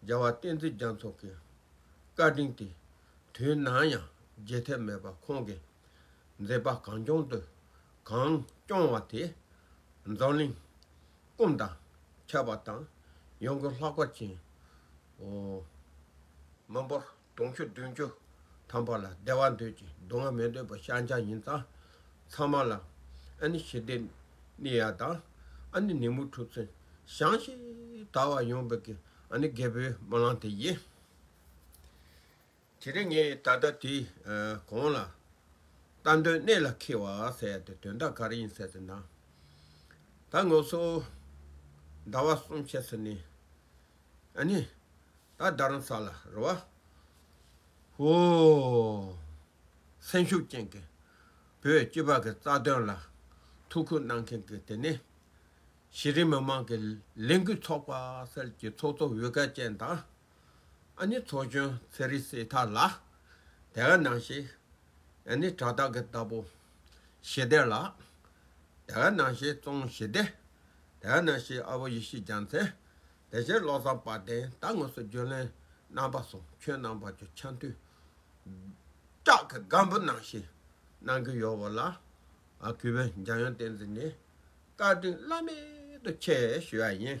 རྒྱལ་བ་བསྟན་འཛིན་རྒྱ་མཚོ་གི་བཀའ་དྲིན་དེ་དུས་ནམ་ཡང་བརྗེད་ཐབས་མེད་པར་ཁོང་གིས་མཛད་པ་གངས་ལྗོངས་དུ་གངས་སྐྱོང་བ་དེ་འཛམ་གླིང་ཀུན་དང་ཁྱབ་པ་དང་ཡོང་སྒོ་ལྷག་པར་ཕྱིན། མི་འབོར། དུང་ཕྱུར་བདུན་ཅུ་ཐམ་པ་ལ་བདེ་བ་འདོད་ཀྱི་སྡུག་བསྔལ་མི་འདོད་པ་ཤཱཀྱ་ཡིན་ཙང་ཚང་མ་ལ། ཨ་ནི་ཞི་བདེ་ནི་ཡག་དང་ཨ་ནི་ནི་མུ་ཁྲུ་ཚུན་ཞང་ཞེས་དར་བ་ཡོང་བའི་གི་ཨ་ནི་རྒད་པོའི་སྨོན་ལམ་དེ་ཡིན། དེ་རིང་ངས་ད་ལྟ་དེའི་གོང་ལ། ལྟ་འདོད་གནད་ལ་འཁེལ་བ་ཟེར་ཏེ་དོན་དག་ག་རེ་ཡིན་ཟེར་ཏེ་ན། ད་ངོ་སོ། ཟླ་བ་གསུམ་ཕྱེད་ཚེ་ནི། ཨ་ནི། ད་རྡ་རམ་ས་ལ་རུ་བ། ཧོ། སེམས་ཤུགས་ཅན་གྱི་བོད་སྤྱི་བ་གི་རྩ་དོན་ལ་ཐུགས་ཁུར་གནང་མཁན་གྱི་དེ་ནི། གཞི་རིམ་མི་མང་གི་ལས་འགུལ་ཚོགས་པ་སེལ་གྱི་ཚོགས་གཙོ་བོད་སྐད་ཅན་དང། ཨ་ནི་ཚོགས་གཞོན་ཚེ་རིང་སྲས་ཐར་ལགས་དེ་ག་ནང་ཞིག། ཨེ་ནི་བྲག་དག་གི་རྟ་ཕོ་ཞེ་སྡེ་ལ། དད་བས་ནང་ཤེས་བཙོང་ཞེ་སྡེ། དད་བས་ནང་ཤེས་ཨ་བོ་ཡེ་ཤེས་ལྗང་ཚལ། དད་བྱེད་བློ་བཟང་དཔལ་ལྡན་རྟ་དངོས་སུ་བརྗོད་ལན། རྣམ་པ་སོ་ཁྱོད་རྣམ་པ་ཅོ་འཆམ་དུས། བྲག་གི་སྒམ་པོ་ནང་ཤེས་གནང་གི་ཡོད་བ་ལ། གུས་པས་འཇམ་དབྱངས་བསྟན་འཛིན་ནི། བཀའ་དྲིན་བླ་མེད་དུ་ཆེ་ཞུ་བ་ཡིན།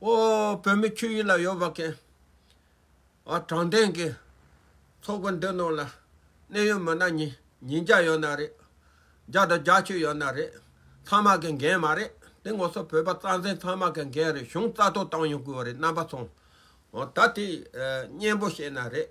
ཨོ་བོད་མི་ཁྱོད་ཡིད་ལ་ཡོད་པ་མཁན། ཨ་དྲང་བདེན་གི། ཚོགས་པ་འདི་ནང་ལ། གནད་ཡོད་མི་སྣ་ཉིན་ཉིན་བརྒྱ་ཡོད་ན་རེད། བརྒྱ་དང་བརྒྱ་ཆོད་ཡོད་ན་རེད། ཚང་མ་གི་འགན་མ་རེད། དེ་ངོ་སོ་བོད་པ་རྩ་འཛིན་ཚང་མ་གི་འགན་རེད་གཞུང་རྩ་གཏོར་བཏང་ཡོང་དགོས་པ་རེད་རྣམ་པ་ཚང། ད་དེ་གཉེན་པོ་བཤད་ན་རེད།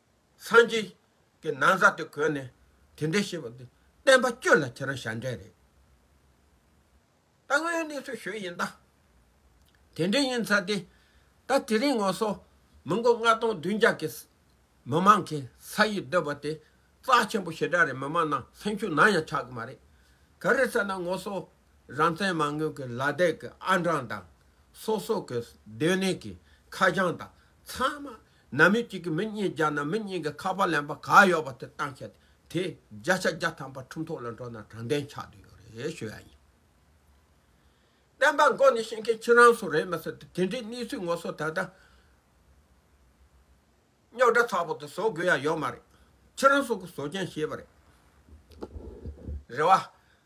སངས་རྒྱས་ཀྱི་ན་བཟའ་དེ་གོན་ནས་དེ་འདྲས་ཤེས་པ་འདི་བསྟན་པ་སྤྱོད་ལ་ཁྱེད་རང་ཞབས་འདྲེན་རེད་ད་དངོས་ཡོད་གནས་ཚུལ་ཞུས་ཡིན་ད། དེ་འདྲས་ཡིན་ཚར་ཏེ་ད་དེ་རིང་ངོ་སོ་མི་མགོ་ལྔ་སྟོང་བདུན་བརྒྱ་གི་མི་མང་གི་ས་ཡིག་བསྡུ་བ་དེ་རྩ་ཆེན་པོ་ཞེ་དྲག་རེད་མི་མང་ནང་སེམས་ཤུགས་ནམ་ཡང་ཆགས་གི་མ་རེད་ག་རེ་ཟེར་ན་ངོ་སོ་རང་བཙན་མ་དངུལ་གི་ལ་དད་གི་ཨ་འབྲང་དང་སོ་སོ་གི་སྡོད་གནས་གི་ཁ་བྱང་དང་ཚང་མ་ན་མི་གཅིག་གིས་མི་གཉིས་བརྒྱག་ན་མི་གཉིས་ཀྱིས་ཁ་པར་ལེན་པ་ག་ཡོད་པ་དེ་བཏང་ཤག་དེ་བརྒྱ་ཆ་བརྒྱ་ཐམ་པ་ཁྲུམས་ཐོག་ལ་འགྲོ་ན་དྲང་བདེན་ཆགས་འདུག་ཡོད་རེད་ཞུ་ཡག་ཡིན། བསྟན་པ་མགོ་ནས་ཤེས་མཁན་ཁྱེད་རང་སུ་རེད་མི་སྲིད་དེ་འདྲའི་གནས་ཚུལ་ངོ་སོ་ད་ལྟ་རྙོག་དྲ་ཚ་པོ་དེ་བཟོ་དགོས་ཡ་ཡོད་མ་རེད་ཁྱེད་རང་སུ་གི་བཟོ་མཁན་ཤེས་པ་རེད། རེ་བ།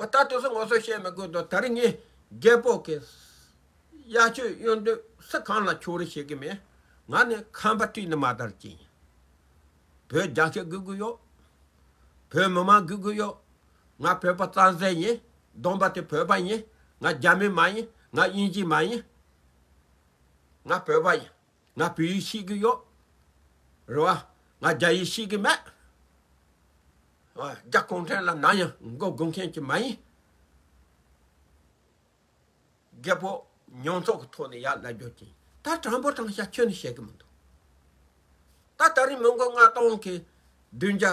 ཨོ་ད་དུས་སུ་ངོ་སོ་བཤད་མི་དགོས་དོ་ད་རི་ངས་རྒད་པོ་གི། གཡག་ཆོས་གཡོན་དུས་སུ་གང་ལ་ཆུང་རི་བྱེད་གི་མེད། ང་ནི་ཁམས་པ་སྤྲིན་ནི་མ་དར་ཅན་ཡིན། བོད་རྒྱ་ཆེ་དགོས་ཀི་ཡོད། བོད་མི་མང་དགོས་ཀི་ཡོད། ང་བོད་པ་རྩ་ཟེར་ཡིན། སྡོམ་པ་དེ་བོད་པ་ཡིན། ང་རྒྱ་མི་མ་ཡིན། ང་དབྱིན་ཇི་མ་ཡིན། ང་བོད་པ་ཡིན། ང་བོད་ཡིག་ཤེས་ཀྱི་ཡོད་རེད་བ། ང་རྒྱ་ཡིག་ཤེས་ཀྱི་མེད། རྒྱ་གུང་ཁྲན་ལ་ནམ་ཡང་མགོ་སྒུར་མཁན་གྱི་མ་ཡིན། རྒད་པོ་མྱོང་ཚོར་གྱི་ཐོག་ནས་ཡར་ལབ་རྒྱུ་ཡིན། ད་དྲང་པོ་དྲང་བཞག་ཁྱོན་ནས་བཤད་ཀྱི་མི་འདུག། ད་ད་རིང་མི་མགོ་ལྔ་སྟོང་གིས་བདུན་བརྒྱ་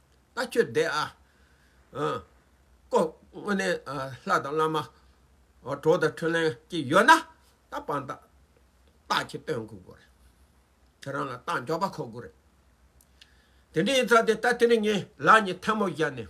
ལྟ་ཁྱོད་བདེ་ཨ། ཀོ། དངོས་གནས་ལྷ་དང་བླ་མ། གྲོགས་དང་འཕྲུལ་ལན་གྱིས་ཡོད་ན། རྟགས་དཔང་རྟགས་ཀྱི་སྟོན་དགོས་དགོས་རེད། ཁྱོད་རང་ལ་རྟགས་མགྱོགས་པ་མཁོ་དགོས་རེད། དེ་འདྲ་ཡིན་ཚ་དེ་ལྟ་དེ་ནས་ངས་ལག་གཉིས་ཐལ་མོ་བཞག་ནས།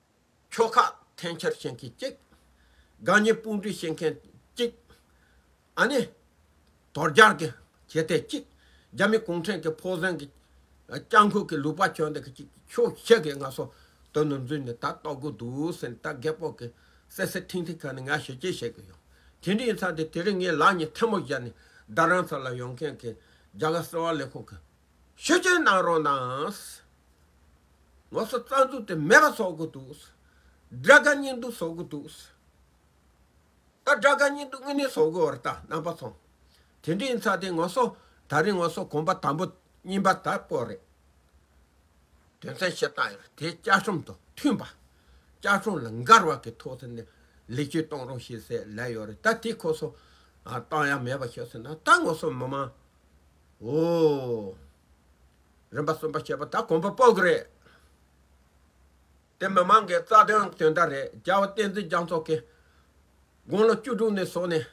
ཁྱོ་ཁ་འཐེན་འཁྱེར་བྱེད་མཁན་གཅིག། དགའ་ཉེ་དཔུང་སྒྲིག་བྱེད་མཁན་གཅིག། ཨ་ནེ། དོལ་རྒྱལ་གྱི་བྱེད་གཏེ་གཅིག། རྒྱ་མི་གུང་ཁྲན་གྱི་ཕོ་གཟན་གྱི། སྤྱང་ཁུག་གི་ལུག་པ་གྱོན་འདེགས་གཅིག་ཁྱོ་ཤེས་གི་ང་སོ་དོན་དུ་འཛུལ་ནས་ད་ལྟོགས་དགོས་འདུག་ཟེར་ནས་ད་རྒད་པོ་གི་སེ་སེ་ཐིང་ཐིང་ཁ་ནས་ང་ཞེ་ཅེ་བྱེད་གི་ཡོད། དེ་འདྲ་ཡིན་ཚ་དེ་དེ་རིང་ངའི་ལག་གཉིས་ཐལ་མོ་བཞག་ནས་བདག་རང་ཚ་ལ་ཡོང་མཁན་གྱི་རྒྱ་གར་སེ་བ་ལས་ཁུང་གི། ཤུགས་རྐྱེན་གནང་རོགས་གནང། ངོ་སོ་རྩ་འཛུགས་དེ་མེད་པ་བཟོ་གི་འདུག། དགྲ་དགའ་གཉེན་སྡུག་བཟོ་གི་འདུག། ད་དགྲ་དགའ་གཉེན་སྡུག་དངོས་གནས་བཟོ་གི་འོ་རེད་ད་རྣམ་པ་ཚང། དེ་འདྲའི་ཡིན་ཚ་དེ་ངོ་སོ་ད་རིང་ངོ་སོ་གོམ་པ་དམ་པོ་རྙིང་པ་དག་པོ་རེད། དོན་ཚན་བཤད་སྟངས་ཡང་དེ་བཅའ་ཁྲིམས་དང་མཐུན་པ། བཅའ་ཁྲིམས་ལ་འགལ་བ་གི་ཐོག་ཏུ་ནས་ལེགས་བཅོས་གཏོང་རོགས་ཞེས་ཟེར་ལད་ཡོད་རེད་ད་དེ་ཁོ་སོ་གཏང་ཡ་མེད་པ་ཤོད་ཟེར་ན་ད་ངོ་སོ་མི་མང། ཨོ། རིམ་པ་གསུམ་པ་བྱས་པ་ད་གོམ་པ་སྤོ་གི་རེད། དེ་མི་མང་གི་རྩ་དོན་དོན་དག་རེད་རྒྱལ་བ་བསྟན་འཛིན་རྒྱ་མཚོ་གིས་དགུང་ལོ་བཅུ་དྲུག་ནས་བཟུང་ནས་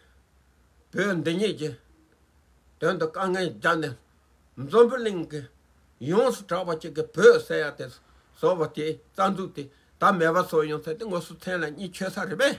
བོད་འདི་ཉིད་ཀྱི་དོན་དུ་དཀའ་ངལ་བརྒྱག་ནས་འཛོམས་པོ་གླིང་གི་ཡོངས་སུ་གྲགས་པ་ཅིག་གི་བོད་ཟེར་ཡ་དེ་བཟོ་བ་དེའི་རྩ་འཛུགས་དེ་ད་མེད་པ་བཟོ་ཡོང་ཚད་དེ་ངོ་སོ་མཚན་ལ་གཉིས་ཆོད་ས་རེད་པས།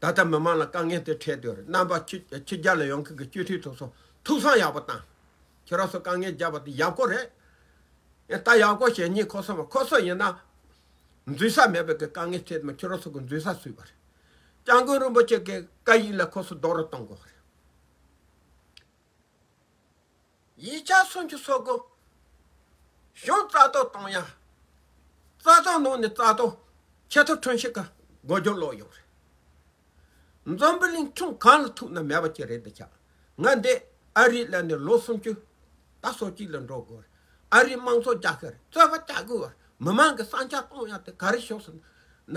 ད་ལྟ་མི་མང་ལ་དཀའ་ངལ་དེ་འཕྲད་དུས་རྣམ་པ་ཕྱི་རྒྱལ་ལ་ཡོང་མཁན་གྱི་སྤྱི་འཐུས་ཚོགས་གསོག་ཐུགས་སང་ཡག་པོ་བཏང། ཁྱེད་རང་ཚོ་དཀའ་ངལ་རྒྱབ་པ་དེ་ཡག་པོ་རེད། ཡང་ད་ཡག་པོ་བྱེད་ཉིན་ཁོ་ཚོ་མ་ཁོ་ཚོ་ཡིན་ན། འཛུལ་ས་མེད་པའི་གི་དཀའ་ངལ་འཕྲད་དུས་མ་ཁྱེད་རང་ཚོ་གི་འཛུལ་ས་སུས་པ་རེད། སྤྱང་དགོན་རིན་པོ་ཆེ་གི་བཀའ་ཡིག་ལ་ཁོ་ཚོ་རྡོག་རོལ་གཏོང་དགོས་པ་རེད། ཡིག་ཆ་སུམ་ཅུ་སོ་དགུ། གཞུང་རྩ་གཏོར་གཏོང་ཡང། རྩ་གཏོར་ནང་ནས་རྩ་གཏོར་ཆད་ཐོ་ཁྲོན་ཤིག་ག་སྒོ་རྒྱོ་ལོག་ཡོང་རེད། འཛོམས་པོ་གླིང་ཆུང་གང་ལ་ཐུག་ན་མེད་པ་ཅིག་རེད་འདི་ཆ་ང་འདི་ཨ་རིའི་ལས་ནས་ལོ་སུམ་ཅུ་ད་སོ་གཅིག་ལ་འགྲོ་དགོས་རེད་ཨ་རིའི་དམངས་གཙོ་རྒྱག་ཤེས་རེད་རྩོད་པ་བྱ་དགོས་རེད་མི་མང་གི་བསམ་འཆར་གཏོང་ཡང་དེ་ག་རེ་ཤོག་ཟེར་ན།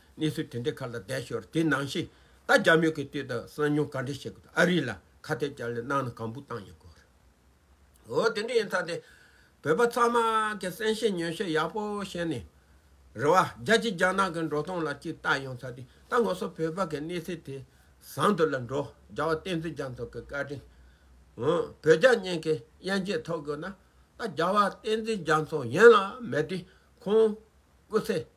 གནས་ཚུལ་དེ་འདྲའི་ཁ་ལ་བསྡད་ཞོར་དེ་ནང་བཞིན་ད་རྒྱ་མོས་ཀྱི་དུས་དང་གསང་མྱུང་ག་འདྲས་བྱེད་དགོས་ཨ་རི་ལ་ཁ་གཏད་བཅག་ལས་གནང་ན་གང་བུ་བཏང་ཡོད་སྐོར་རེད། འོ་དེ་འདྲ་ཡིན་ཚ་དེ་བོད་པ་ཚང་མ་གི་བསམ་ཤེས་ཉོན་ཤེས་ཡག་པོ་བྱས་ནས་རེ་བ་རྒྱ་ཆེ་རྒྱ་ནག་གི་འགྲོ་སྟངས་ལ་གཅིག་ལྟ་ཡོང་ཚ་དེ་ད་ངོ་སོ་བོད་པ་གི་གནས་ཚུལ་དེ་བཟང་དུ་ལ་འགྲོ་རྒྱ་བ་བསྟན་འཛིན་རྒྱ་མཚོ་གི་བཀའ་དྲིན་འོ་བོད་རྒྱ་གཉིས་ཀྱི་དབྱེན་འབྱེད་ཐོབ་དགོས་ན་ད་རྒྱ་བ་བསྟན་འཛིན་རྒྱ་མཚོ་ཡན་ལག་མེད་དེ་ཁོང་སྐུ་ཚེ་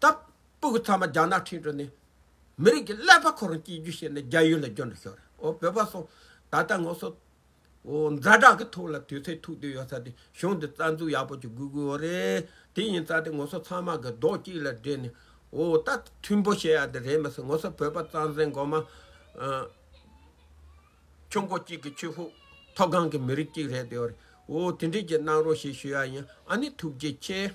སྟབས། སྤུ་གུ་ཚང་མ་རྒྱ་ནག་ཁྲིན་ཏུ་ནས། མི་རིགས་ཀྱི་ཀླད་པ་ཁོ་རང་སྐྱེལ་རྒྱུ་བྱས་ནས་རྒྱ་ཡུལ་ལ་འབྱོར་འགྲོ་ཤོག་རེད་ཨོ་བོད་པ་སོང། ད་ལྟ་ངོ་སོ། འོ་འཛའ་དྲག་གི་ཐུགས་ལ་དུས་ཚོད་ཐུག་དུས་ཡོད་ས་དེ་གཞུང་འདི་རྩ་འཛུགས་ཡག་པོ་ཅིག་དགོས་དགོས་འོ་རེད། དེ་ཡིན་ས་དེ་ངོ་སོ་ཚང་མ་གི་རྡོག་གཅིག་ལ་སྦྲེལ་ནས། འོ་ད་མཐུན་པོ་བྱེད་ཡ་དེ་རེད་མ་ཟད་ངོ་སོ་བོད་པ་གཙང་སེང་མགོ་མ། ཁྱོད་མགོ་གཅིག་གི་ཆོས་ཕུག་མཐོ་སྒང་གི་མི་རིགས་གཅིག་རེད་དེ་བར་ཨོ་དེ་འདྲས་ཀྱི་གནང་རོགས་ཞེས་ཞུ་ཡ་ཡིན་ཨ་ནི་ཐུགས་རྗེ་ཆེ།